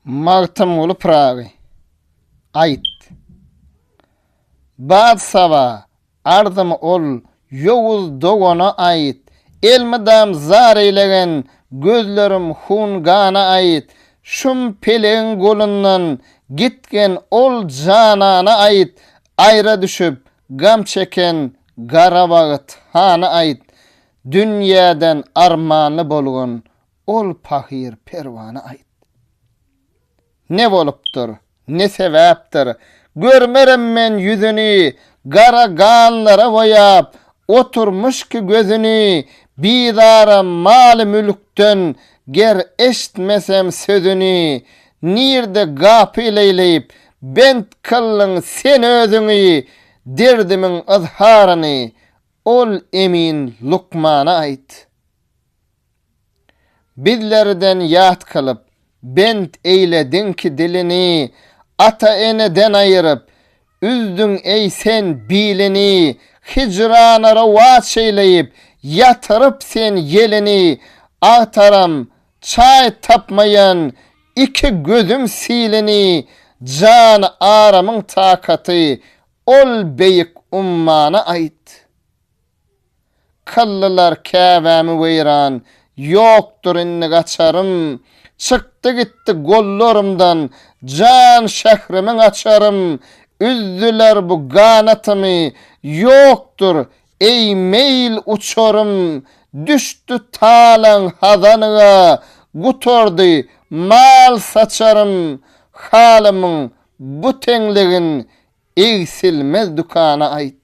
Magtymguly Pyragy, Aýt, bad saba, arzymy ol ýowuz dogana aýt, Elmydam zar eýlegen gözlerim hun-gana aýt, Şum pelegiň golundan gitgen ol janana aýt, Aýra düşüp, gam çeken gara wagt hana aýt, Dünýäden armanly bolgun Ol pahyr Perwana aýt. Ne bolupdyr, ne sebäpdir, görmerim men ýüzüni, gara ganlara boýap, oturmyş ki gözüni, bizaram maly-mülkden, ger eşitmesem sözüni, nirde gapy leýleýip, bent kyldyň sen özüňi, derdimiň yzharyny, ol emin lukmana aýt. Bizlerden ýat kylyp, bent eýlediňki dilini, Ata-eneden aýyryp, üzdüň, eý, sen bilini, Hijrana rowaç eýleýip, ýatyryp sen ýelini, Agtaram, çaý tapmaýan iki gözüm silini, Jany aramyň takaty, ol beýik ummana aýt. Kyllylar Käbämi weýran, Ýokdur indi gaçarym. Çykdy gitdi gollarymdan, Jan şährimiň açarym. Üzdüler bu ganatymy, Ýokdur, eý, meýil uçarym. Düşdi talaň hazanyga, Gutardy mal saçarym. Halymyň bu teňligin, Egsilmez dükana aýt.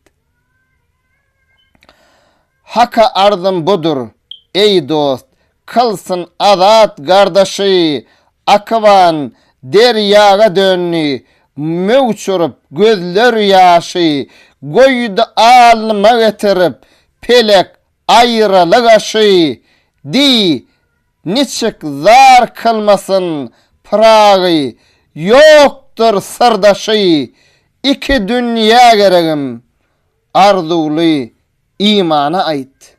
Haka arzym budur, eý dost, Kylsyn azat gardaşy! Akyban derýaga döndi, Möwç urup, gözler ýaşy, Goýdy alnyma getirip, Pelek aýralyk aşy. Diý, Niçik zar kylmasyn Pyragy, Ýokdur syrdaşy iki dünýä geregim, Arzuwly imana aýt.